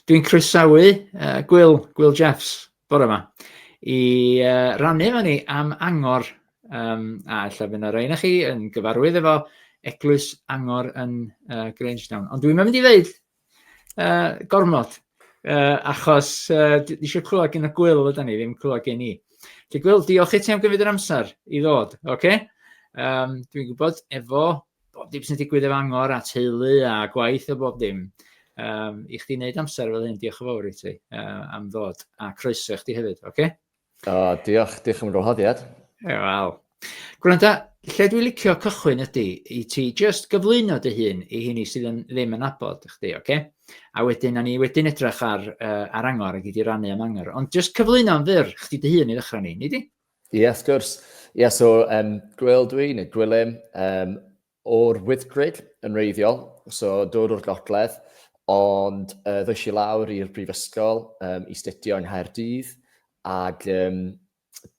Dwi'n croesawu uh, Gwyl, Gwyl Jeffs, bore yma, i uh, rannu efo ni am angor, um, a lle fynd o'r ein chi yn gyfarwydd efo Eglwys Angor yn uh, Grangetown. Ond dwi'n mynd i ddeud Uh, gormod. Uh, achos uh, eisiau clywed gen y gwyl ydyn ni, ddim clywed gen i. Lle gwyl, diolch i ti am gymryd yr amser i ddod, oce? Okay? Um, Dwi'n gwybod efo bob dim sy'n digwydd efo angor a teulu a gwaith a bob dim. Um, I chdi wneud amser fel hyn, diolch yn fawr i ti uh, am ddod a croeso i chdi hefyd, oce? Okay? O, diolch, diolch am y gwahoddiad. E, wel. Gwranda, lle dwi'n licio cychwyn ydy i ti just gyflwyno dy hun i hini sydd yn, ddim yn abod chdi, oce? Okay? A wedyn, a ni wedyn edrych ar, uh, ar angor ac i di rannu am angor. Ond just cyflwyno yn fyr chdi dy hun i ddechrau ni, ni di? Ie, yes, gwrs. Ie, yeah, so um, Gwyl dwi, neu Gwilym, um, O'r Wyddgrug yn wreiddiol, so dod o'r gogledd, ond yy ddoes i lawr i'r brifysgol um, i studio yng Nghaerdydd, ac um,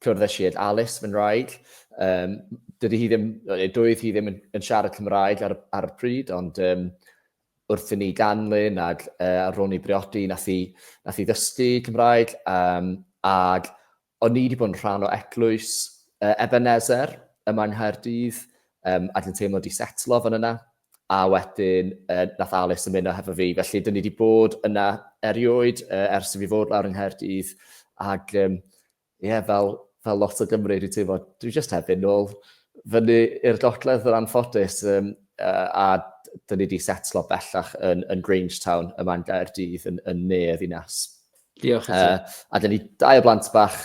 cwrddais i ag Alice, fy nraig. Um, dydy hi ddim, doedd hi ddim yn, yn siarad Cymraeg ar, ar y pryd, ond um, wrth i ni ganlyn ac uh, ar ôl ni briodi, nath i, nath i ddysgu Cymraeg, um, ac O'n i wedi bod yn rhan o eglwys uh, Ebenezer yma yng Nghaerdydd, um, a dwi'n teimlo wedi setlo fan yna, a wedyn uh, nath Alice ymuno hefo fi. Felly, dyn ni wedi bod yna erioed uh, ers i fi fod lawr yng Nghaerdydd, ac um, yeah, fel, fel lot o Gymru, dwi'n teimlo, dwi jyst heb yn ôl fyny i'r gogledd yr anffodus, um, uh, a dyn ni wedi setlo bellach yn, yn Grangetown yma yn Gaerdydd, yn, yn ne y ddinas. Diolch i ti. Uh, a dyn ni dau o blant bach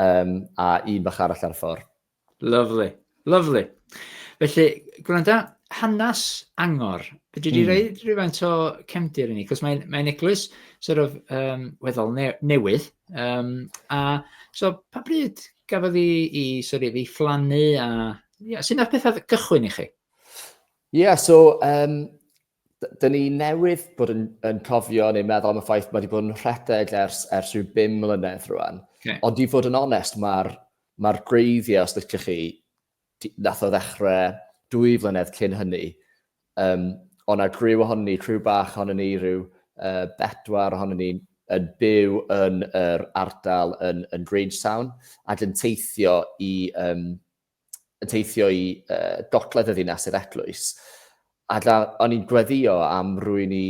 um, a un bach arall ar y ffordd. Lovely, lovely. Felly, gwranda, hanes angor. Fedri di mm. rei rhywfaint o cefndir i ni, cos mae'n mae eglwys sort of, um, weddol ne newydd. Um, a so, pa bryd gafodd i, i, sort of, i fflannu a... Yeah, sy'n ar pethau gychwyn i chi? Ie, yeah, so, um, Dyn ni newydd bod yn, yn cofio neu meddwl am y ffaith mae wedi bod yn rhedeg ers, ers rhyw bum mlynedd rwan. Okay. Ond i fod yn onest, mae'r ma gwreiddiau, os ydych chi, nath o ddechrau dwy flynedd cyn hynny. Um, ond a griw ohonyn ni, criw bach ohonyn ni, rhyw uh, bedwar ohonyn ni yn byw yn yr ardal yn, yn Grangetown ac yn teithio i, um, yn teithio i uh, gogledd y ddinas i'r eglwys. A da, o'n i'n gweddio am rwy'n i,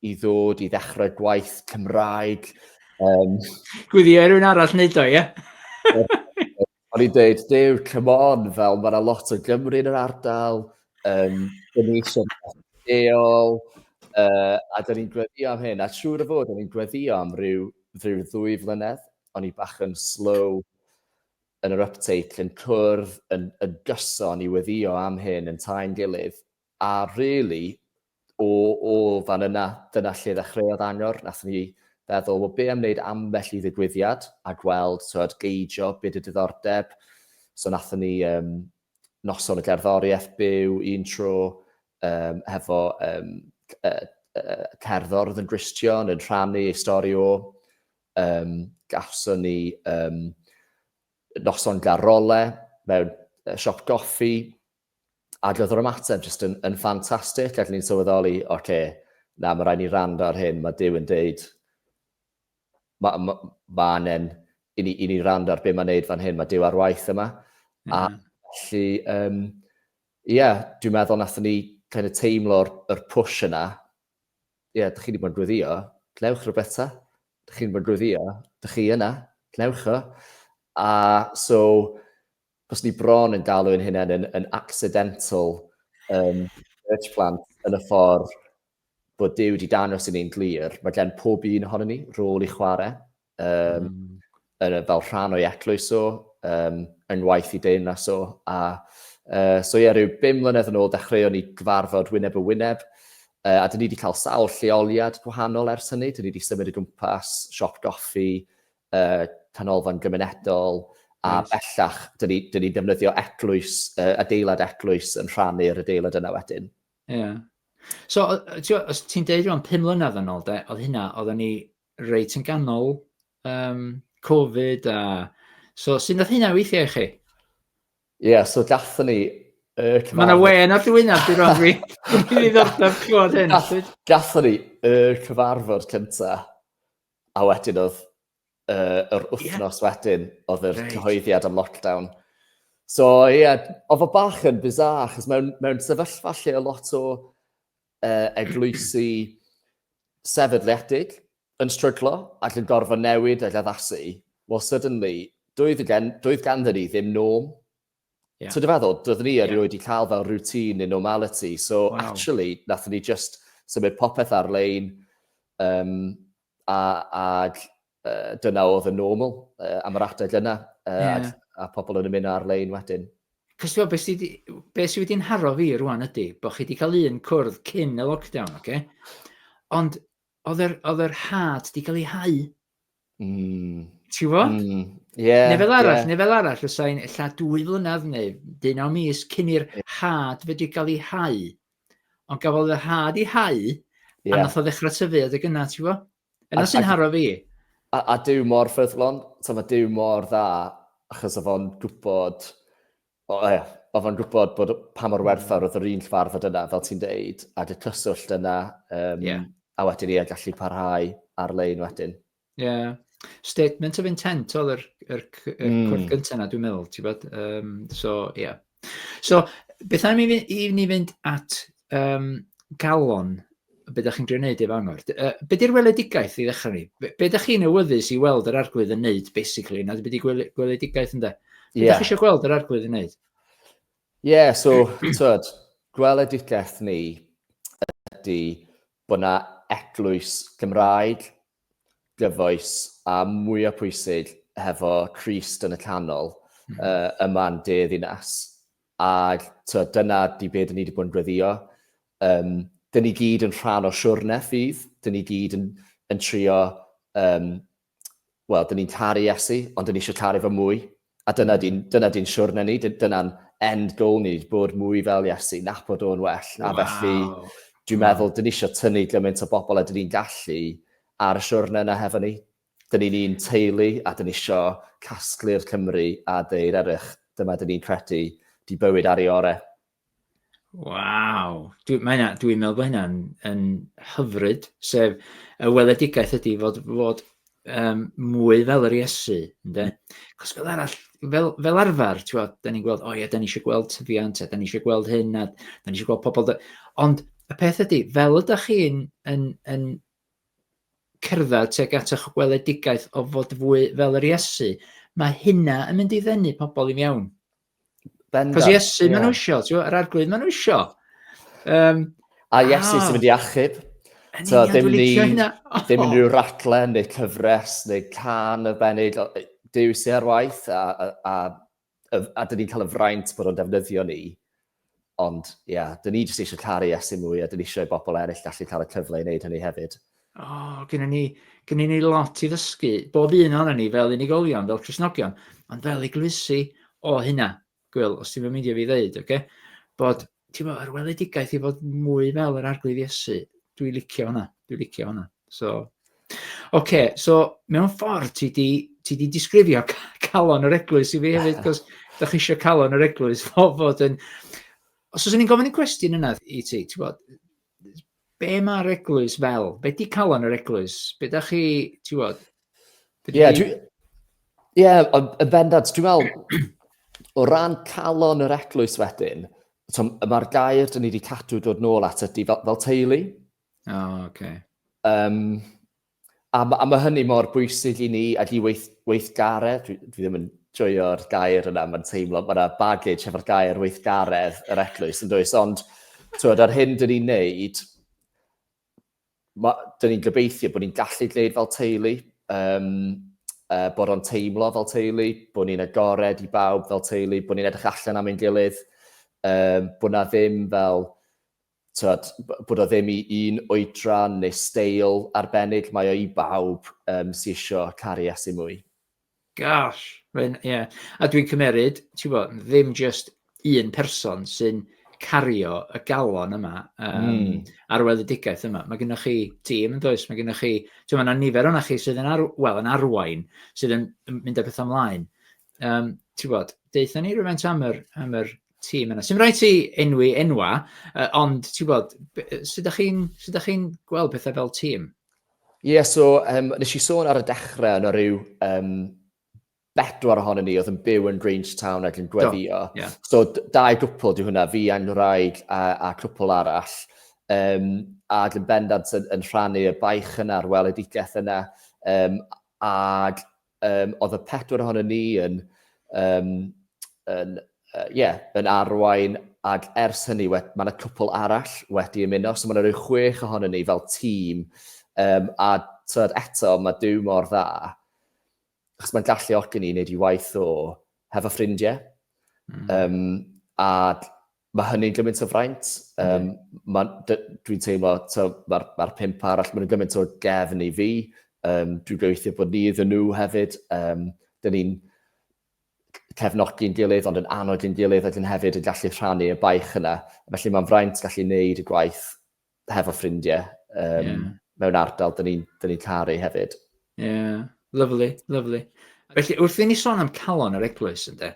i ddod i ddechrau gwaith Cymraeg. Um, gweddio rwy'n arall wneud o, ie? o'n i'n dweud, dew, come on, fel mae yna lot o Gymru yn yr ardal, um, dyn ni eisiau deol, uh, a dyn ni'n gweddio am hyn. A siŵr o fod, o'n i'n gweddio am rhyw, rhyw ddwy flynedd, o'n i bach yn slow yn yr ypteitl yn cwrdd yn yn gyson i weddio am hyn yn tae'n gilydd a rili o o fan yna dyna lle ddechreuodd Angor nathon ni feddwl wel be' am wneud ambell i ddigwyddiad a gweld t'wod geidio be' 'di diddordeb so nathon ni yym noson y gerddoriaeth byw un tro yym hefo yym yy yy cerddor o'dd yn Gristion yn rhannu ei stori o Yym, gafson ni yym noson da role mewn yy siop goffi ag o'dd yr ymateb jyst yn yn ffantastig ac o'n i'n sylweddoli oce na ma' raid ni wrando ar hyn ma' Duw yn deud ma' ma' ma' anen i ni i ni wrando ar be' ma'n neud fan hyn ma' Duw ar waith yma a felly yym ie dwi'n meddwl nathon ni kind of teimlo'r yr push yna Ie, dych chi wedi bod yn gweddïo, gwnewch rhywbeth ta. Dych chi wedi bod yn gweddïo, dych chi yna, gwnewch o. A so, bys ni bron yn galw yn hynna'n yn, yn accidental um, church plant yn y ffordd bod Dyw wedi dangos i ni'n glir, mae gen pob un ohono ni rôl i chwarae um, mm. yn, fel rhan o'i eglwys o, um, yng ngwaith i deyrnas o. A, uh, so ie, rhyw bum mlynedd yn ôl, dechreuon ni gyfarfod wyneb y wyneb, uh, a dyn ni wedi cael sawl lleoliad gwahanol ers hynny. Dyn ni wedi symud y gwmpas, siop goffi, uh, canolfan gymunedol, a nice. bellach, dyn ni, dyn ni defnyddio eglwys, uh, adeilad eglwys yn rhannu'r adeilad yna wedyn. Ie. Yeah. So, ti'n deud rhywun pum mlynedd yn ôl, de, oedd hynna, oedden ni reit yn ganol um, Covid a... So, sy'n dod hynna weithiau i chi? Ie, yeah, so gathen ni y cyfarfod... Mae yna wen ar dwynaf, dwi'n rhan fi. Dwi'n ei ddordaf clywed hyn. Gathen ni y cyfarfod cynta, a wedyn oedd uh, yr wythnos yeah. wedyn, oedd yr right. cyhoeddiad am lockdown. So, ie, yeah, oedd o bach yn bizar, achos mewn, mewn sefyllfa lle o lot o uh, eglwysi sefydliedig yn stryglo ac yn gorfod newid ac addasu, well, suddenly, doedd, gen, doedd ganddyn ni ddim norm. Yeah. So dy feddwl, doedd ni erioed yeah. wedi cael fel routine neu normality. So wow. actually, nath ni just symud popeth ar-lein um, a, ag uh, dyna oedd y normal uh, am yr adeg yna, uh, yeah. a, a pobl yn ymuno ar-lein wedyn. Cos ti'n beth sydd be sy wedi'n haro fi rwan ydy, bod chi wedi cael un cwrdd cyn y lockdown, oce? Okay? Ond oedd yr, oedd yr had wedi cael ei hau. Mm. Ti'n fo? Mm. Yeah, neu fel arall, yeah. neu fel arall, os ein illa dwy flynedd neu dyn o mis cyn i'r had wedi cael ei hau. Ond gafodd y had i hau, yeah. a nath o ddechrau tyfu, oedd y gyna, ti'n fo? Yna sy'n haro fi. A, a dyw mor ffyddlon, so mae dyw mor dda, achos oedd o'n gwybod, o, e, oedd o'n gwybod bod pa mor werthfawr oedd yr un llfarfod yna, fel ti'n deud, ac y cyswllt yna, um, yeah. a wedyn i e gallu parhau ar-lein wedyn. Ie. Yeah. Statement of intent oedd yr, yr, yr mm. cwrt gyntaf yna, dwi'n meddwl, ti'n bod? Um, so, ie. Yeah. So, beth am i ni, i ni fynd at um, galon be ydych chi'n gwneud efo angor. Uh, be di'r weledigaeth i ddechrau ni? Be, be ydych chi'n awyddus i weld yr arglwydd yn wneud, basically? Na, be di gweledigaeth yn da? Be yeah. ydych chi eisiau gweld yr arglwydd yn wneud? Ie, yeah, so, tyd, gweledigaeth ni ydy bod yna eglwys Gymraeg gyfoes a mwyaf pwysig hefo Christ yn y canol mm -hmm. uh, yma'n de ddinas. A to, dyna di beth ni wedi bod yn gweddio. Um, dyn ni gyd yn rhan o siwrne ffydd, dyn ni gyd yn, yn trio, um, wel, dyn ni'n caru Iesu, ond dyn ni eisiau caru fo mwy, A dyna di'n, dyna di'n siwrne ni, dyna'n end goal ni, bod mwy fel Iesu, nabod o'n well. Wow. A felly, dwi'n wow. meddwl, dyn ni eisiau tynnu gymaint o bobl a dyn ni'n gallu ar y siwrne yna hefo ni. Dyn ni'n un teulu a dyn ni eisiau casglu'r Cymru a deir erych, dyma dyn ni'n credu, di bywyd ar ei orau. Waw! Dwi, mae hynna, dwi'n meddwl bod hynna'n yn hyfryd, sef y weledigaeth ydy fod, fod um, mwy fel yr Iesu, ynddo? Cos fel arall, fel, fel arfer, ti'n gweld, da ni'n gweld, o ie, da ni eisiau gweld tyfiant, da ni eisiau gweld hyn, a da ni eisiau gweld pobl... Da... Ond y peth ydy, fel ydych chi'n yn, yn cerdded teg at eich gweledigaeth o fod fwy fel yr Iesu, mae hynna yn mynd i ddenu pobl i mewn. Bendant. Cos Iesu yeah. maen nhw isio, ti'n yr arglwydd maen nhw isio. Um, a Iesu ah. sy'n mynd i achub. So, ddim ni, ddim unrhyw ratle, neu cyfres, neu can y benig. Dyw sy'n ar waith, a, a, a, a dyn ni'n cael y fraint bod o'n defnyddio ni. Ond, ie, yeah, dyn ni jyst eisiau caru Iesu mwy a dyn ni eisiau bobl eraill gallu cael y cyfle i wneud hynny hefyd. O, oh, gynnu ni, gynnu ni lot i ddysgu, bob un o'n ni fel unigolion, fel Cresnogion, ond fel eglwysi o hynna. Gwyl, os ti'n mynd meindio fi ddeud, oce? Okay? Bod, ti'n bod, yr weledigaeth i fod mwy fel yr arglwydd Iesu, dwi'n licio hwnna, dwi'n licio hwnna. So, Ok, so mewn ffordd ti di, ti di disgrifio calon yr eglwys i fi hefyd, cos da chi eisiau calon yr eglwys o fod yn... Os oes ni'n gofyn y cwestiwn yna i ti, ti bod, be mae'r eglwys fel? Be di calon yr eglwys? Be da chi, ti bod? Ie, yeah, dwi... Ie, yeah, yn fendant, dwi'n meddwl, o ran calon yr eglwys wedyn, so, mae'r gair dyn ni wedi cadw dod nôl at ydy fel, fel teulu, O, oh, oce. Okay. Um, a, a mae hynny mor bwysig i ni, ac i weith, weithgaredd, dwi, dwi ddim yn joio'r gair yna, mae'n teimlo, mae yna baggage efo'r gair weithgaredd yr eglwys yn dweud, ond twyd, ar hyn dyn ni'n neud, dyn ni'n gobeithio bod ni'n gallu gwneud fel teulu, um, uh, bod o'n teimlo fel teulu, bod ni'n agored i bawb fel teulu, bod ni'n edrych allan am ein gilydd, um, bod na ddim fel tibod, bod o ddim i un oedran neu steil arbennig, mae o i bawb um, sy'n eisiau caru Iesu mwy. Gosh, ie. Yeah. A dwi'n cymeryd, ti'n bod, ddim just un person sy'n cario y galon yma um, mm. ar weledigaeth yma. Mae gennych chi tîm yn does, mae gennych chi, ti'n meddwl, nifer o'na chi sydd yn, ar, well, yn arwain, sydd yn mynd â pethau ymlaen. Um, ti'n bod, deitha ni rhywbeth am yr, am yr tîm yna. Sym rhaid ti enwi enwa, uh, ond ti'n gwybod, sut ydych chi'n chi gweld pethau fel tîm? Ie, yeah, so um, nes i sôn ar y dechrau yna rhyw um, bedwar ohonyn ni oedd yn byw yn Grange Town ac yn gweddio. Do, yeah. So dau gwpl di hwnna, fi a'n rhaid a, a cwpl arall. Um, a yn bendant yn, yn rhannu y baich yna a'r weledigaeth yna. Um, a Um, oedd y pedwar ohono ni yn, um, yn, uh, yeah, yn arwain ac ers hynny mae yna cwpl arall wedi ymuno, so mae yna rhyw chwech ohono ni fel tîm um, a tyd eto mae dyw mor dda achos mae'n gallu ogi ni wneud i waith o hefo ffrindiau. Mm. Um, a Mae hynny'n gymaint o fraint. Um, mm. Dwi'n teimlo, mae'r ma pimp arall, mae'n gymaint o gefn i fi. Um, dwi'n gobeithio bod ni iddyn nhw hefyd. Um, Dyna ni'n cefnogi'n gilydd, ond yn annog yn gilydd, ac yn hefyd yn gallu rhannu y baich yna. Felly mae'n fraint gallu wneud y gwaith hefo ffrindie um, yeah. mewn ardal dyn ni'n ni, ni caru hefyd. Ie, yeah. lyflu, lyflu. Felly, wrth i ni sôn am calon yr eglwys, ynddo,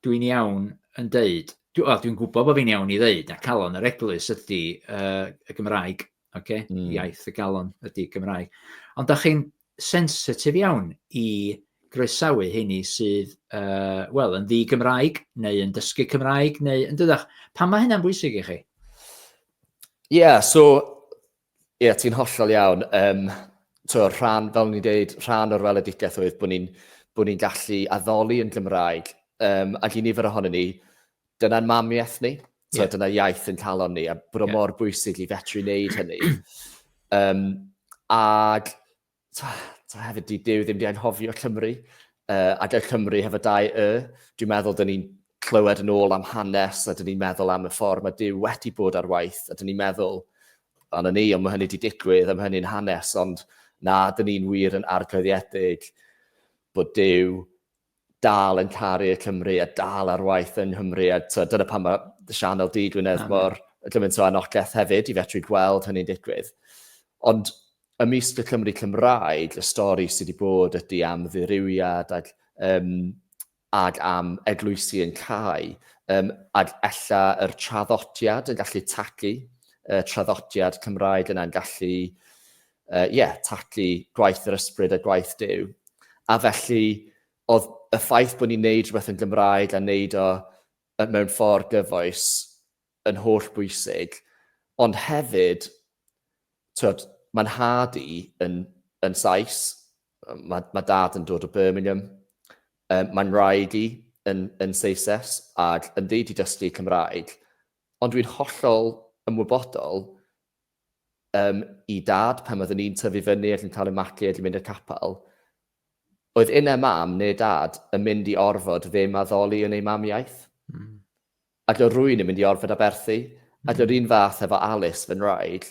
dwi'n iawn yn deud, dwi'n dwi gwybod bod fi'n iawn i ddeud, na calon yr eglwys ydy uh, y Gymraeg, okay? mm. iaith y galon ydy Gymraeg. Ond da chi'n sensitif iawn i groesawu heini sydd uh, wel, yn ddi Gymraeg neu yn dysgu Cymraeg neu yn dydach. Pan mae hynna'n bwysig i chi? Ie, yeah, so, ie, yeah, ti'n hollol iawn. Um, so, rhan, fel ni'n dweud, rhan o'r weledigaeth oedd bod ni'n bod ni'n gallu addoli yn Gymraeg. Um, ac i nifer ohono ni, Dyna'n mamiaith ni, so yeah. dyna iaith yn calon ni, a bod yeah. mor bwysig i fetru wneud hynny. um, ag, ta, ta hefyd, di Dyw ddim di anghofio Cymru, uh, ac y Cymru hefo dau y, dwi'n meddwl dyn ni'n clywed yn ôl am hanes, a dyn ni'n meddwl am y ffordd mae Dyw wedi bod ar waith, a dyn ni'n meddwl, dan y ni, ond mae hynny wedi digwydd, a mae hynny'n hanes, ond na, dyn ni'n wir yn arglwyddiedig bod Dyw dal yn caru y Cymry a dal ar waith yng Nghymru a twa, dyna pam mae dy sianel di dwi'n edrych mor gymaint o anogaeth hefyd i fetru gweld hynny'n digwydd. Ond ymysg y Cymru Cymraeg, y stori sydd wedi bod ydy am ddirywiad ac, um, ac am eglwysi yn cael, um, ac ella yr traddodiad yn gallu tagu, uh, traddodiad Cymraeg yna'n gallu yy ie, talu gwaith yr ysbryd a gwaith Duw. A felly, oedd y ffaith bod ni'n neud rhywbeth yn Gymraeg a neud o mewn ffordd gyfoes yn holl bwysig, ond hefyd, twyd, mae'n nhad i yn, yn Sais, mae, mae dad yn dod o Birmingham, um, mae'n rhaid i yn, yn Seises ac yn ddeud i dysgu Cymraeg, ond dwi'n hollol ymwybodol Yym, i Dad, pan oeddwn i'n tyfu fyny ac yn cael 'y magu ac yn mynd i'r capel, oedd innau Mam, neu Dad, yn mynd i orfod ddim addoli yn eu mamiaith. Mm. Ac oedd rwy'n yn mynd i orfod aberthu. Mm. Ac oedd un fath efo Alice, fy nraig.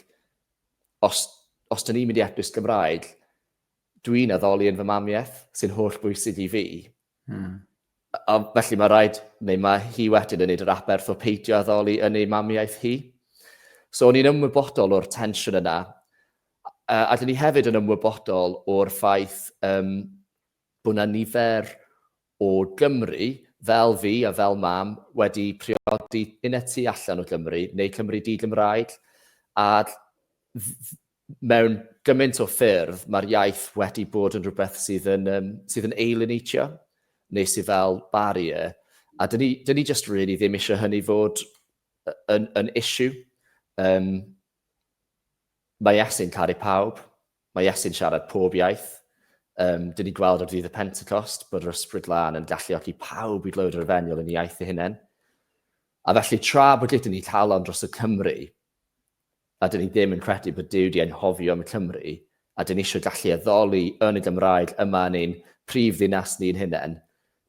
Os, os dyn ni'n mynd i epus Gymraeg, dwi'n addoli yn fy mamiaith, sy'n holl bwysig i fi. Hmm. A felly mae rhaid, neu mae hi wedyn yn neud yr aberth o peidio addoli yn ei mamiaeth hi. So o'n i'n ymwybodol o'r tensiwn yna. A, a dyn ni hefyd yn ymwybodol o'r ffaith um, bod yna nifer o Gymru fel fi a fel mam wedi priodi yn y tu allan o Gymru neu Cymru di-Gymraeg a Mewn gymaint o ffyrdd, mae'r iaith wedi bod yn rhywbeth sydd yn, um, sydd yn eilunitio, neu sydd fel barrier, a dyn ni, dyn ni just really ddim eisiau hynny fod yn, yn issue. Um, mae Iesu'n caru pawb, mae Iesu'n siarad pob iaith. Um, dyn ni gweld ar ddydd y Pentecost bod yr ysbryd lan yn galluogi pawb i glywed yr efengyl yn iaith ei hunain. A felly tra bod gyda ni calon dros y Cymru, a dyn ni ddim yn credu bod Duw 'di anghofio am Cymru, a dyn ni isio gallu addoli yn y Gymraeg yma yn ein prif ddinas ni'n hunain,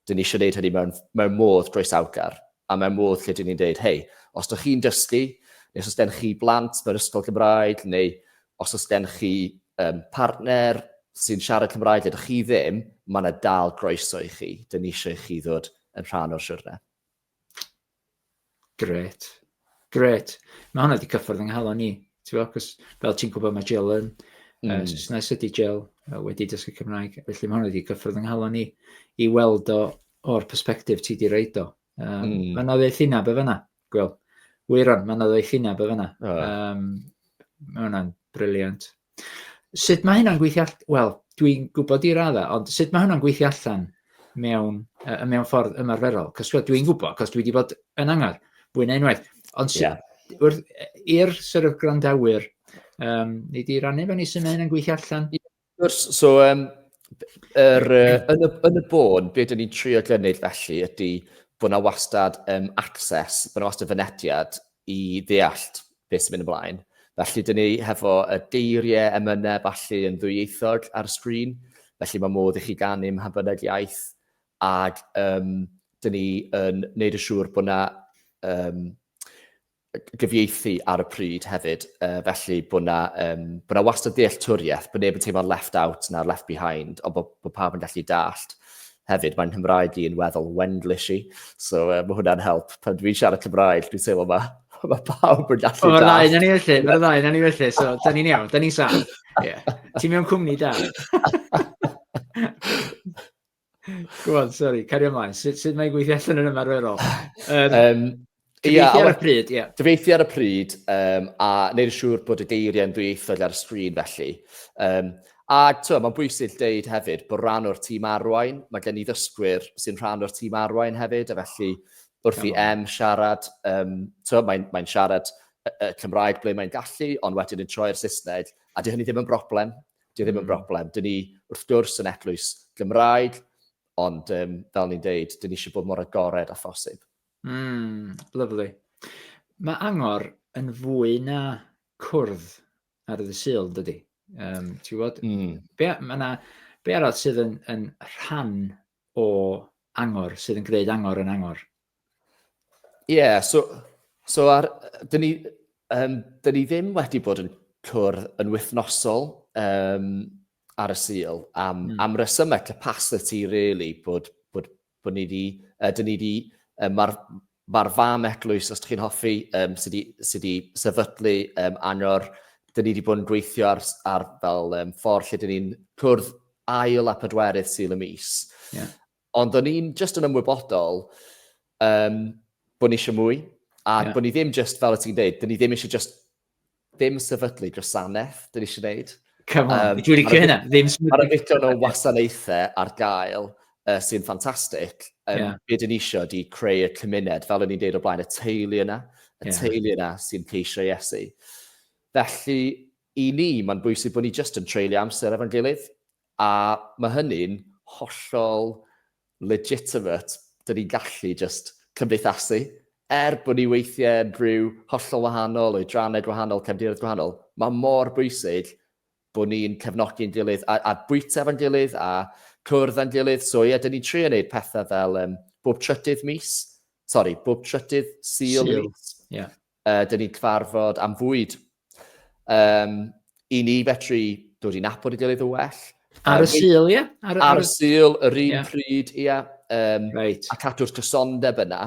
dyn ni isio neud hynny mewn mewn modd groesawgar, a mewn modd lle dyn ni'n deud, hei, os dych chi'n dysgu, neu os oes gen chi blant mewn ysgol Gymraeg, neu os oes gen chi um, partner sy'n siarad Cymraeg ydych chi ddim, mae yna dal groeso i chi, dyn ni eisiau i chi ddod yn rhan o'r siwrne. Gret. Gret. Mae hwnna wedi cyffwrdd yng nghalon ni. Ti'n fel ti'n gwybod mae Jill yn mm. uh, Saesnes ydy Jill wedi dysgu Cymraeg. Felly mae hwnna wedi cyffwrdd yng nghalon ni i weld o o'r perspektif ti di reid o. Um, mm. Mae yna ddweud llinaf be fyna. Gwel, wyron, mae yna ddweud llinaf be fyna. Oh. Um, mae hwnna'n briliant. Sut mae hynna'n gweithio all-... Wel, dwi'n gwybod i raddau, ond sut mae hynna'n gweithio allan mewn, uh, mewn ffordd ymarferol? Cos dwi'n gwybod, cos dwi wedi bod yn angar, fwy na unwaith. Ond sut, yeah. wrth, i'r sort of grandawyr, um, ni di rannu fe ni sy'n hynna'n gweithio allan? Gwrs, so, um, er, uh, yn, y, yn y bôn, beth dyn ni'n trio gynnydd felly ydy bod yna wastad um, access, bod yna wastad fynediad i ddeallt beth sy'n mynd ymlaen. Felly, dyn ni hefo y geiriau emynau falle yn ddwyieithog ar y sgrin, felly mae modd i chi ganu mha bynnag iaith, ac um, dyn ni yn neud y siŵr bod yna um, gyfieithu ar y pryd hefyd, uh, felly bod yna, um, bod yna wastad dealltwriaeth, bod neb yn teimlo'n left out na'r left behind, ond bod, bod pawb yn gallu dallt. Hefyd, mae Nghymraeg i yn weddol Wenglish i, so uh, mae hwnna'n help. Pan dwi'n siarad Cymraeg, dwi'n teimlo ma, mae pawb yn gallu da. Mae'r ddau na ni felly, mae'r ddau na ni felly, so da ni'n iawn, da ni'n saf. Yeah. Ti'n mewn cwmni da. Gwybod, sorry, cario ymlaen. Sut, sut mae'n gweithio allan yn ymarferol? Um, um, Cyfieithu ar y pryd, ie. Cyfieithu ar y pryd, um, a neud yn siŵr bod y geiriau'n ddwyieithog ar y sgrin felly. Um, a to, mae'n bwysig dweud hefyd bod rhan o'r tîm arwain, mae gen i ddysgwyr sy'n rhan o'r tîm arwain hefyd, a felly wrth i em siarad, um, to, mae'n mae siarad y, y Cymraeg ble mae'n gallu, ond wedyn yn troi'r Saesneg, a dy hynny ddim yn broblem, dy ddim yn hmm. broblem. Dyn ni wrth gwrs yn eglwys Gymraeg, ond um, fel ni'n deud, dyn ni eisiau bod mor agored a phosib. Mm, lyfli. Mae angor yn fwy na cwrdd ar y syl, dydy. Um, Ti'n gwybod? Mm. Be, na, be arall sydd yn, yn rhan o angor, sydd yn gwneud angor yn angor? Ie, yeah, so, so ar, dyn ni, um, dyn ni ddim wedi bod yn cwrdd yn wythnosol um, ar y syl am, mm. am resymau capacity, really, bod, bod Bod ni di, uh, dyn ni di, um, mae'r ma fam eglwys, os ydych chi'n hoffi, um, sydd wedi sy di sefydlu um, anor, dyn ni wedi bod yn gweithio ar, ar fel um, ffordd lle dyn ni'n cwrdd ail a pedwerydd syl y mis. Yeah. Ond o'n i'n just yn ymwybodol um, bod ni eisiau mwy, a yeah. bod ni ddim just, fel y ti'n dweud, dyn ni ddim eisiau just Ddim sefydlu gwasanaeth, dyn eisiau gwneud. Come on, um, dwi'n licio hynna. Ddim sefydlu. Mae'r ddigon o wasanaethau ar gael uh, sy'n ffantastig. Um, yeah. Be dyn eisiau di creu y cymuned, fel o'n i'n deud o blaen, y teulu yna, y yeah. teulu yna sy'n ceisio Iesu. Felly, i ni, mae'n bwysig bod ni jyst yn treulio amser efo'n gilydd, a mae hynny'n hollol legitimate, dyn ni'n gallu jyst cymdeithasu. Er bod ni weithiau yn rhyw hollol wahanol, oedrannau gwahanol, cefndiroedd gwahanol, mae mor bwysig bod ni'n cefnogi'n gilydd a, a bwyta efo'n gilydd a cwrdd â'n gilydd. So ie, yeah, dyn ni'n trio wneud pethau fel um, bob trydydd mis, sori, bob trydydd syl, syl. mis. Yeah. Yy, dyn ni'n cyfarfod am fwyd. Um, I ni fetri dod i nabod i gilydd yn well. Ar y syl, ie? Ar, ar, y syl, yr un yeah. pryd, ie. Yeah. Um, right. A cadw'r cysondeb yna.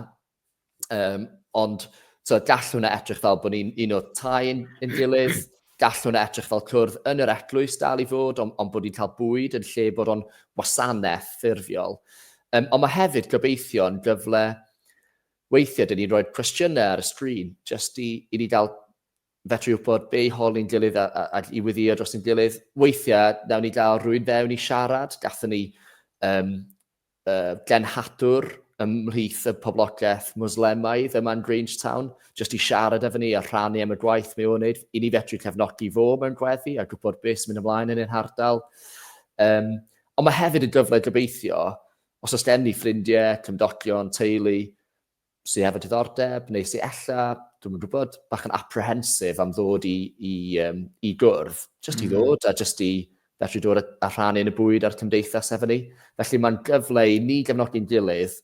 Um, ond, so, gall hwnna edrych fel bod ni'n un o tai'n yn gilydd. gall hwnna edrych fel cwrdd yn yr eglwys dal i fod, ond, ond bod ni'n cael bwyd yn lle bod o'n wasanaeth ffurfiol. Um, ond mae hefyd gobeithio'n gyfle Weithiau dyn ni'n rhoi'r cwestiynau ar y sgrin jyst i, i ni gael fedru wybod be i holi'n gilydd a, a, a i wyddïo dros yn gilydd. Weithiau, nawn ni gael rhywun fewn i siarad, gathen ni um, uh, genhadwr ymhlith y poblogaeth Muslemaidd yma yn Grangetown, jyst i siarad efo ni a rhannu am y gwaith mae o'n wneud, i ni fedru cefnogi fo mewn gweddi a gwybod beth sy'n mynd ymlaen yn ein hardal. Um, ond mae hefyd yn gyfle gobeithio Os oes gen i ffrindiau, cymdogion, teulu sy hefo diddordeb neu sy ella, dwi'm yn gwybod, bach yn apprehensive am ddod i, i, um, i gwrdd, jyst mm. i ddod a jyst i fedru dod a, a rhannu yn y bwyd a'r cymdeithas efo ni. Felly mae'n gyfle i ni gefnogi'n gilydd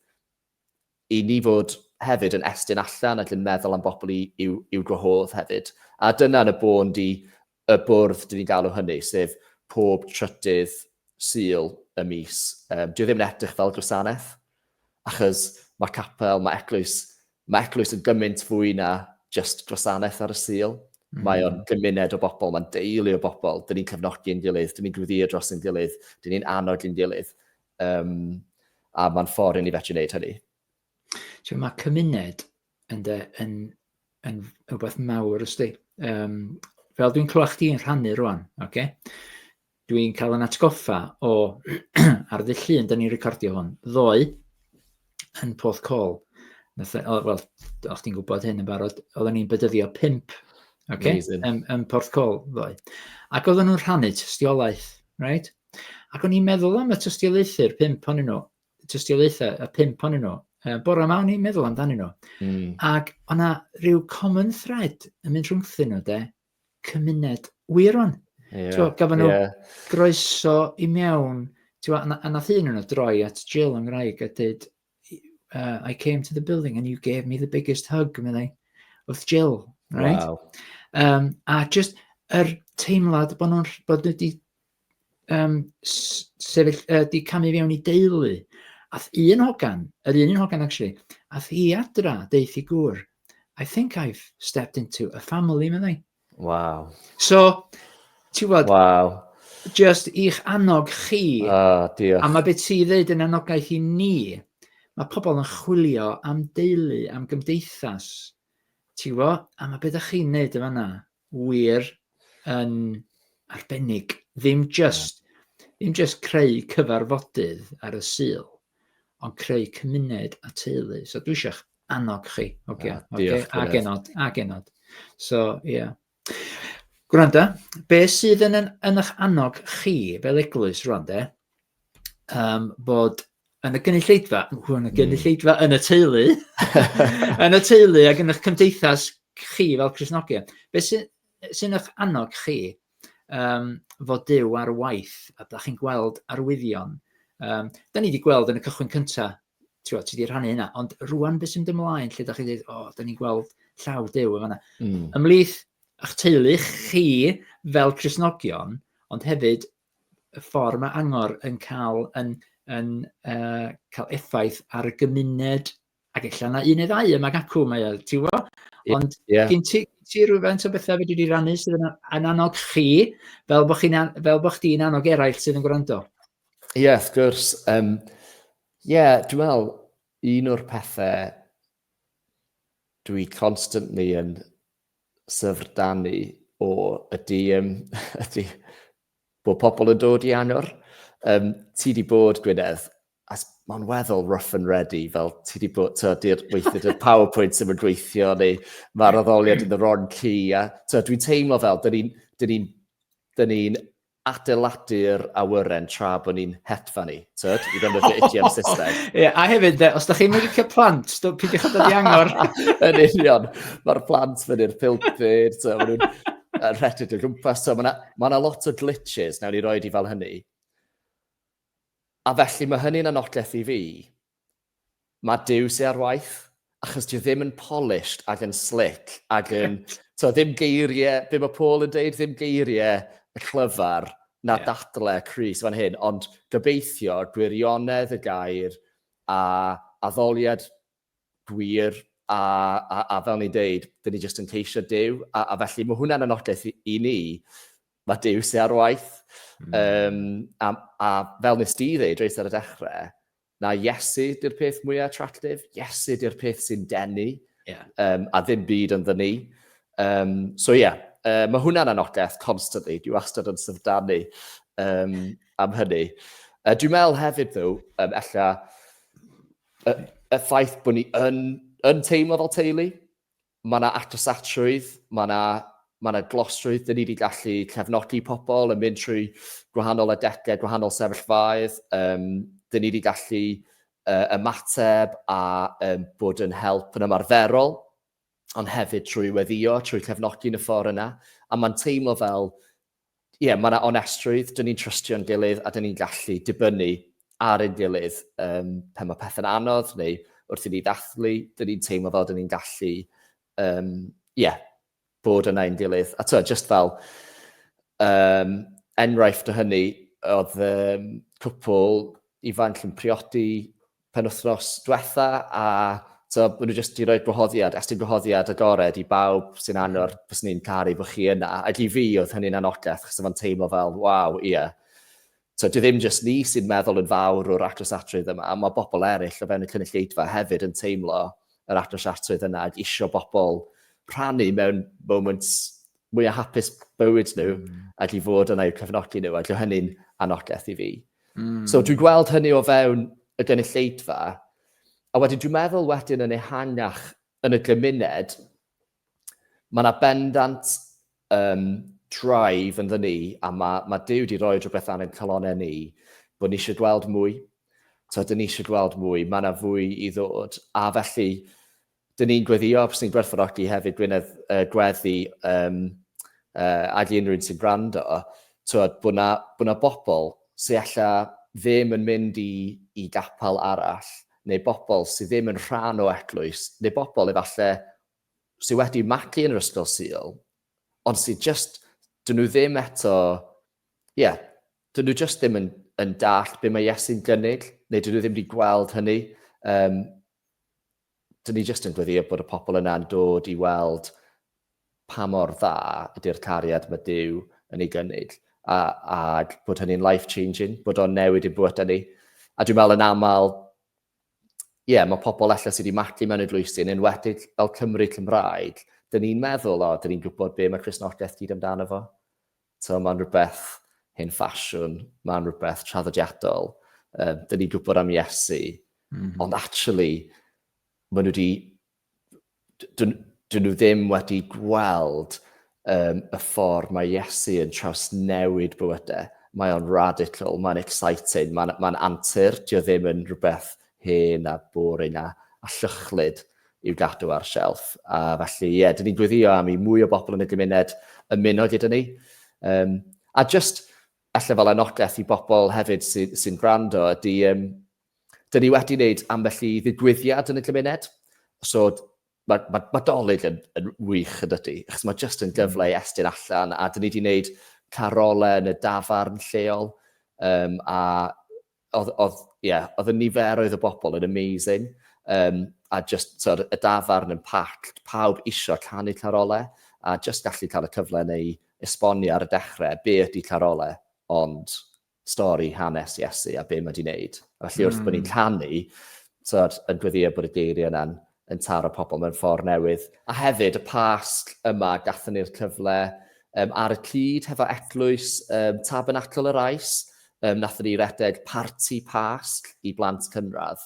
I ni fod hefyd yn estyn allan ac yn meddwl am bobl i'w gwahodd hefyd. A dyna yn y bôn di y bwrdd dyn ni'n galw hynny, sef pob trydydd Sul y mis. Um, Dio ddim yn edrych fel gwasanaeth, achos mae capel, mae eglwys, mae eglwys yn gymaint fwy na just gwasanaeth ar y Sul. Mm. Mae o'n gymuned o bobl, mae'n deulu o bobl, dyn ni'n cefnogi yn gilydd, dyn ni'n gwyddio dros yn gilydd, dyn ni'n annog yn gilydd. Um, a mae'n ffordd i ni fethu wneud hynny. So, mae cymuned yn, de, yn, yn, yn rhywbeth mawr ysdi. Um, fel dwi'n clywed chdi'n rhannu rwan, okay? dwi'n cael yn atgoffa o ar ddydd llun, da ni'n recordio hwn, ddoe yn Porth Col. Wel, o'ch ti'n gwybod hyn yn barod, oedden ni'n bydyddio pimp okay? yn, yn Porth Col ddoe. Ac oedden nhw'n rhannu tystiolaeth, right? Ac o'n i'n meddwl am y tystiolaethau'r pimp o'n nhw, tystiolaethau y pimp o'n nhw. Uh, bore yma o'n i'n meddwl amdanyn nhw. Mm. Ac o'na rhyw common thread yn mynd rhwngthyn nhw, de, cymuned wir o'n. Yeah. Gafon nhw yeah. groeso i mewn, a nath un nhw droi at Jill yng Ngwraeg a dweud, uh, I came to the building and you gave me the biggest hug, meddai, wrth Jill, right? Wow. Um, a just yr er teimlad bod nhw'n bod wedi um, sefyll, uh, di camu fewn i deulu. Ath un hogan, yr un un hogan actually, ath i adra, deithi gŵr, I think I've stepped into a family, meddai. Waw. So, ti'n gwybod... Waw. Just i'ch annog chi. Ah, diolch. A mae beth ti'n dweud yn anogaeth i ni. Mae pobl yn chwilio am deulu, am gymdeithas. Ti'n gwybod? A mae beth ydych chi'n neud y fanna. Wir yn arbennig. Ddim just, yeah. ddim just creu cyfarfodydd ar y syl, ond creu cymuned a teulu. So dwi eisiau Annog chi, oce. Okay. Ah, okay. A genod, a genod. So, ie. Yeah. Gwranda, be sydd yn, yn eich annog chi fel eglwys rwan, de? Um, bod yn y gynulleidfa, yn y hmm. gynulleidfa, yn y teulu, yn y teulu ac yn eich cymdeithas chi fel Cresnogion. Be sy'n sy eich annog chi um, fod Dyw ar waith a da chi'n gweld arwyddion? Um, da ni wedi gweld yn y cychwyn cyntaf Tibod, ti 'di rhannu hynna, ond rwan beth sy'n dymlaen lle da chi dweud, o, da ni'n gweld llaw dew yma. Mm. Ymlith ych teulu chi fel Cresnogion, ond hefyd y ffordd mae angor yn cael, yn, yn, uh, cael effaith ar y gymuned, ac efallai yna un neu ddau yma gacw, mae o, ti'n gwybod? Ond yeah. gen ti, ti rhywfaint o bethau wedi rannu sydd yn, yn annog chi, fel bod chdi'n an, annog eraill sydd yn gwrando? Ie, yeah, wrth gwrs. Um, Ie, yeah, dwi'n meddwl, un o'r pethau dwi constantly yn syfrdanu o ydy, um, ydy bod pobl yn dod i angor. Um, ti di bod, Gwynedd, as mae'n weddol rough and ready, fel ti di bod, ti'n di'r weithio y PowerPoint sy'n mynd gweithio, neu mae'r addoliad yn y ron ci, a ti'n dwi'n teimlo fel, dyn ni'n ni, ni, ni adeiladu'r awyren tra bod ni'n hedfan i, tyd, i ddefnyddio idiom Saesneg. Ie, a hefyd, de, os da chi'n mynd i'r plant, do- peidiwch â dod i angor. Yn union, mae'r plant fyny'r pulpud, so, maen nhw'n yy, rhedeg o gwmpas, so, mae yna lot o glitches, nawn ni roi di fel hynny. A felly mae hynny'n anogaeth i fi, Mae Duw sy ar waith, achos dio ddim yn polished ac yn slick ac yn, to, ddim geiriau, be mae Paul yn deud, ddim geiriau y clyfar na yeah. dadle Chris fan hyn, ond gobeithio gwirionedd y gair a addoliad gwir a, a, a fel ni'n deud, dyn ni jyst yn ceisio Dyw, a, a felly mae hwnna'n anogaeth i, i ni, mae Dyw sy'n ar waith, mm. um, a, a fel nes di ddeud, reis ar y dechrau, Na, Iesu 'di'r peth mwya attractive, Iesu 'di'r peth sy'n denu. Ie. Yym, a ddim byd ynddo ni. Yym, so ie. Yy, ma' hwnna'n anogaeth constantly, dwi wastad yn syfrdanu um, am hynny. Uh, dwi'n meddwl hefyd, ddo, um, ella, y, y ffaith bod ni yn, yn teimlo fel teulu, Mae yna agosatrwydd, mae yna, mae yna glosrwydd, dyn ni wedi gallu cefnogi pobl yn mynd trwy gwahanol adegau, gwahanol sefyllfaoedd, um, dyn ni wedi gallu uh, ymateb a um, bod yn help yn ymarferol, ond hefyd trwy weddio, trwy cefnogi yn y ffordd yna, a mae'n teimlo fel ie, mae yna onestrwydd, dyn ni'n trystio'n gilydd a dyn ni'n gallu dibynnu ar ein gilydd um, pan mae pethau'n anodd neu wrth i ni ddathlu, dyn ni'n teimlo fel dyn ni'n gallu um, yeah, bod yna ein gilydd. A twa, just fel um, enghraifft o hynny, oedd um, cwpl ifanc yn priodi penwythnos diwetha a so bod nhw jyst wedi rhoi gwahoddiad, estyn gwahoddiad agored i bawb sy'n anor, fyswn ni'n caru bod chi yna. Ac i fi oedd hynny'n anogaeth, chos o'n teimlo fel, waw, ie. Yeah. So, dwi ddim jyst ni sy'n meddwl yn fawr o'r actosiatrwydd yma, mae bobl eraill o fewn y cynulleidfa hefyd yn teimlo yr actosiatrwydd yna ac isio bobl rhannu mewn moments mwy o hapus bywyd nhw mm. ac i fod yna i'w cefnogi nhw ac o hynny'n anogaeth i fi. Mm. So dwi'n gweld hynny o fewn y gynulleidfa, a wedyn dwi'n meddwl wedyn yn ehangach yn y gymuned, mae yna bendant um, drive yn ni, a mae, mae Dyw wedi rhoi rhywbeth ar ein calonau ni, bod ni eisiau gweld mwy, so dyn ni eisiau gweld mwy, mae yna fwy i ddod, a felly Dyn ni'n gweddio, fyswn i'n gwerthfawrogi hefyd Gwynedd uh, gweddi um, uh, ag unrhyw un sy'n gwrando, twod, bod na, bod na bobl sy'n alla ddim yn mynd i, i gapel arall, neu bobl sydd ddim yn rhan o eglwys, neu bobl efallai sydd wedi magu yn yr ysgol syl, ond sydd just, dyn nhw ddim eto, ie, yeah, dyn nhw just ddim yn, yn dall beth mae Iesu'n gynnig, neu dyn nhw ddim wedi gweld hynny. Um, Dyn ni jyst yn gweddio bod y pobl yna'n dod i weld pa mor dda ydy'r cariad mae Duw yn ei gynnig, a, ag bod hynny'n life-changing, bod o'n newid i'n bywydau ni. A dwi'n meddwl yn aml, ie, yeah, mae pobl allan sydd wedi matlu mewn eglwysi, yn enwedig fel Cymru Cymraeg, dyn ni'n meddwl, o, dyn ni'n gwybod be mae Cresnogaeth gyd amdano fo. Tibod, mae'n rhywbeth hen ffasiwn, mae'n rhywbeth traddodiadol, um, dyn ni'n gwybod am Iesu, mm -hmm. ond actually, maen nhw wedi, dyn, dyn nhw ddim wedi gweld um, y ffordd mae Iesu yn trawsnewid bywydau. Mae o'n radical, mae'n exciting, mae'n mae antur, dio ddim yn rhywbeth hen a boring a, a llychlyd. i'w gadw ar shelf. A felly, ie, yeah, dyn ni'n gweddio am i mwy o bobl yn y gymuned ymuno gyda ni. Um, a just, allai fel anogaeth i bobl hefyd sy'n sy, sy gwrando, ydy, um, dyn ni wedi wneud ambell i ddigwyddiad yn y gymuned. So, mae, mae, mae dolyg yn, yn wych yn dydy, achos mae jyst yn hmm. gyfle i estyn allan, a dyn ni wedi gwneud carolau yn y dafarn lleol, um, a Oedd, oedd, ie, yeah, oedd y niferoedd o bobl yn amazing. Um, a just, tyd, y dafarn yn packed, pawb isio canu Carolau, a just gallu cael y cyfle neu esbonio ar y dechrau be ydy Carolau, ond stori hanes Iesu a be mae wedi wneud. A felly wrth mm. bod ni'n hmm. canu, tyd, yn gweddio bod y geiriau yna'n yn taro pobl mewn ffordd newydd. A hefyd y Pasg yma, gathen ni'r cyfle um, ar y cyd hefo eglwys um, Tabernacl yr Ais, um, nathon ni redeg parti Pasg i blant cynradd.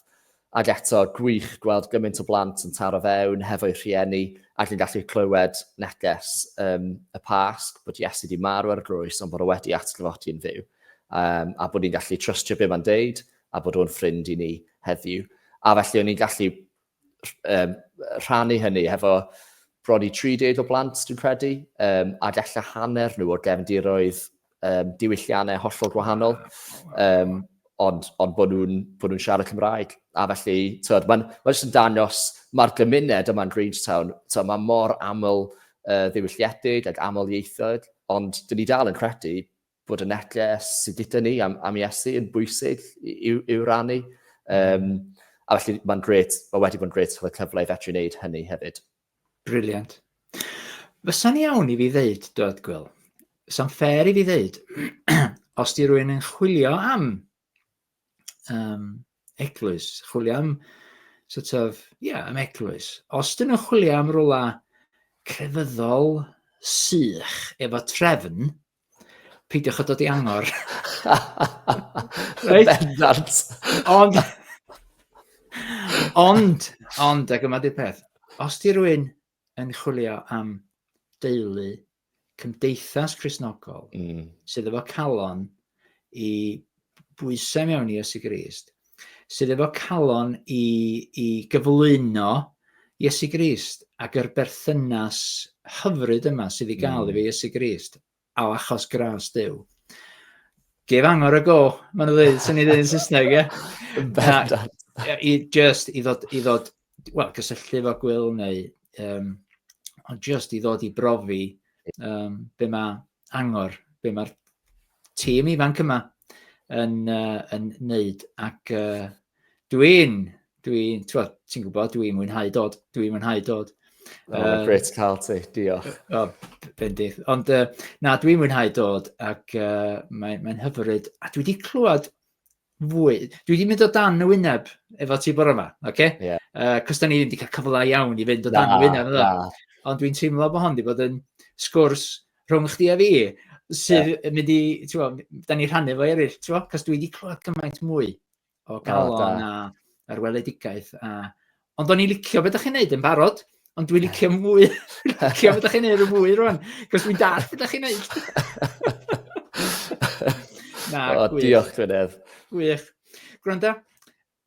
Ac eto, gwych gweld gymaint o blant yn taro fewn hefo'u rhieni ac yn gallu clywed neges um, y Pasg bod Iesu wedi marw ar y grwys ond bod o wedi atgyfodi yn fyw. Um, a bod ni'n gallu trystio be mae'n deud a bod o'n ffrind i ni heddiw. A felly o'n i'n gallu um, rhannu hynny hefo bron i 30 o blant, dwi'n credu, um, a gallu hanner nhw o'r gefndiroedd um, diwylliannau hollol gwahanol, um, ond, ond bod nhw'n nhw siarad Cymraeg. A felly, tywed, mae'n ma jyst yn dangos, mae'r gymuned yma'n Grangetown, tywed, mae mor aml uh, ddiwylliedig ac aml ieithoedd, ond dyn ni dal yn credu bod y neges sydd gyda ni am, am Iesu yn bwysig i'w, i'w rannu. Um, a felly mae'n gret, mae wedi bod yn gret cael y cyfle i fedru wneud hynny hefyd. Briliant. Fysa'n iawn i fi ddeud, dod Gwyl, fysa'n ffair i fi ddeud, os di rwy'n yn chwilio am um, eglwys, chwilio am sort of, ie, yeah, am eglwys. Os dyn nhw'n chwilio am rola crefyddol sych efo trefn, peidiwch o dod i angor. right? Bendant. Ond, ond, ond, ac yma di'r peth, os di rwy'n yn chwilio am deulu, cymdeithas Crisnogol, mm. sydd efo calon i bwysau mewn i Iesu Grist, sydd efo calon i, i gyflwyno Iesu Grist ac yr berthynas hyfryd yma sydd i gael mm. efo Iesu Grist. O, achos gras Duw. Gef angor y go, maen nhw'n dweud, sy'n ei ddweud yn Saesneg, ie? Bendant. I, just i ddod, i ddod, wel, gysylltu fo gwyl neu, um, ond just i ddod i brofi um, be mae angor, be mae'r tîm ifanc yma yn, uh, yn neud ac uh, Dwi'n, dwi'n, ti'n gwybod, dwi'n mwynhau dod, dwi'n mwynhau dod. Oh, um, great to cael ti, diolch. O, oh, bendith. Ond uh, na, dwi'n mwynhau dod ac uh, mae'n mae hyfryd. A dwi wedi clywed fwy. Dwi wedi mynd o dan y wyneb efo ti bore yma, oce? Okay? Yeah. Uh, Cos da ni wedi cael cyfle iawn i fynd o dan y wyneb. Da. Ond dwi'n teimlo bod hon wedi bod yn sgwrs rhwng chdi a fi sydd yeah. mynd i, ti'n da ni rhannu fo eraill, ti'n Cos dwi wedi clywed gymaint mwy o galon a yr weledigaeth. A... Ond o'n i'n licio beth ydych chi'n neud yn barod, ond dwi'n licio mwy, licio beth ydych chi'n neud yn mwy rwan, cos dwi'n dall beth ydych chi'n neud. Na, o, gwych. diolch, Gwynedd. Gwych. Gwranda,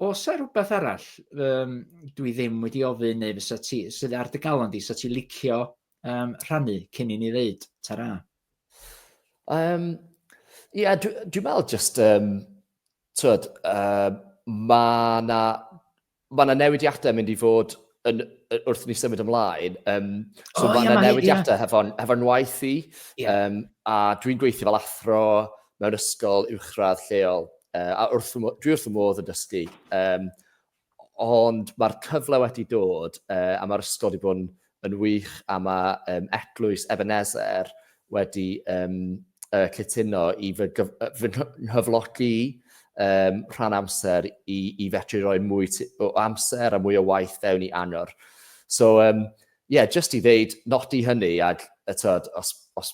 os ar rhywbeth arall um, dwi ddim wedi ofyn neu fysa ti, sydd ar dy galon di, sa ti licio um, rhannu cyn i ni ddeud tara? Um, yeah, dwi'n dwi meddwl just, um, twyd, uh, mae na, ma na newidiadau mynd i fod yn, wrth ni symud ymlaen. Um, so oh, mae yna yeah, newidiadau yeah. hefo'n hefo waith i, yeah. um, a dwi'n gweithio fel athro mewn ysgol uwchradd lleol, uh, a wrth, dwi wrth y modd yn dysgu. Um, Ond mae'r cyfle wedi dod a mae'r ysgol wedi bod yn wych a mae Eglwys Ebenezer wedi cytuno i fy nghyflogi rhan amser i fedru rhoi mwy o amser a mwy o waith fewn i Angor. So, ie, jyst i ddeud, nodi hynny ac, tibod, os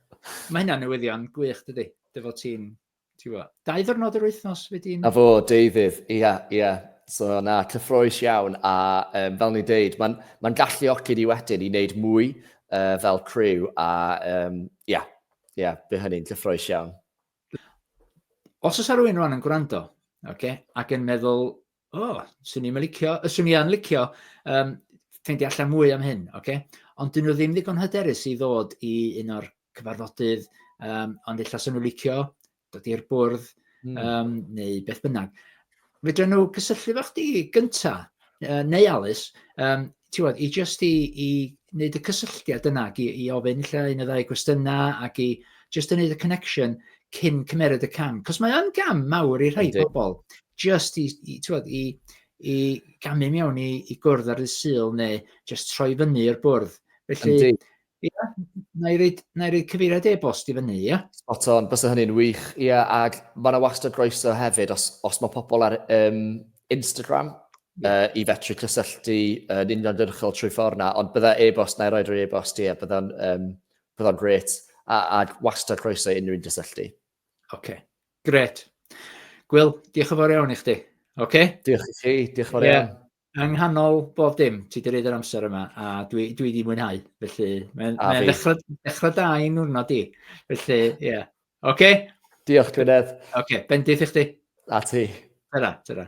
Mae hynna'n newyddion gwych, dydy? Dy fod ti'n, ti'n fo, dau ddwrnod yr wythnos wedi'n... A fo, deuddydd, ia, ia. So, na, cyffroes iawn, a um, fel ni'n deud, mae'n ma galluogi ni wedyn i wneud mwy uh, fel criw, a um, ia, ia, fe hynny'n cyffroes iawn. Os oes rhywun rwan yn gwrando, okay, ac yn meddwl, O, swn i'n licio, swn i'n licio um, ffeindio allan mwy am hyn, oce? Okay? Ond dyn nhw ddim ddigon hyderus i ddod i un o'r cyfarfodydd, um, ond illa swn nhw'n licio dod i'r bwrdd, mm. um, neu beth bynnag. Fydra nhw cysylltu fo chdi gynta, uh, neu Alice, um, ti'n bod, i just i, i wneud y cysylltiad yna, i, i ofyn lle un o ddau gwestiynau ac i just yn wneud y connection cyn cymeryd y cam. Cos mae o'n gam mawr i rhai pobl, just i, i, bod, i, i gamu mewn i, i gwrdd ar y syl neu just troi fyny i'r bwrdd. Felly, Yndi. Ia, na i reid, na i reid cyfeiriad e-bost i fyny, ia? Spot on, bysa hynny'n wych. Ie, yeah, ac mae yna wastad groeso hefyd os, os mae pobl ar um, Instagram yeah. uh, i fetru cysylltu yn uh, uniongyrchol trwy ffordd na, ond bydda e-bost, na i roi'r e-bost, ie, yeah, bydda'n um, bydda gret, a, a wastad croeso i unrhyw un gysylltu. Oce, okay. gret. Gwyl, diolch yn fawr iawn i chdi. Oce? Okay? Diolch i chi, diolch yn fawr yeah. iawn. Yng nghanol bob dim, ti wedi rhaid yr amser yma, a dwi, dwi wedi mwynhau. Felly, mae'n mae ddechrau, ddechrau da i nwrnod di. Felly, ie. Yeah. Oce? Okay? Diolch, Gwynedd. Oce, okay, bendith i chdi. A ti. Tyra, tyra.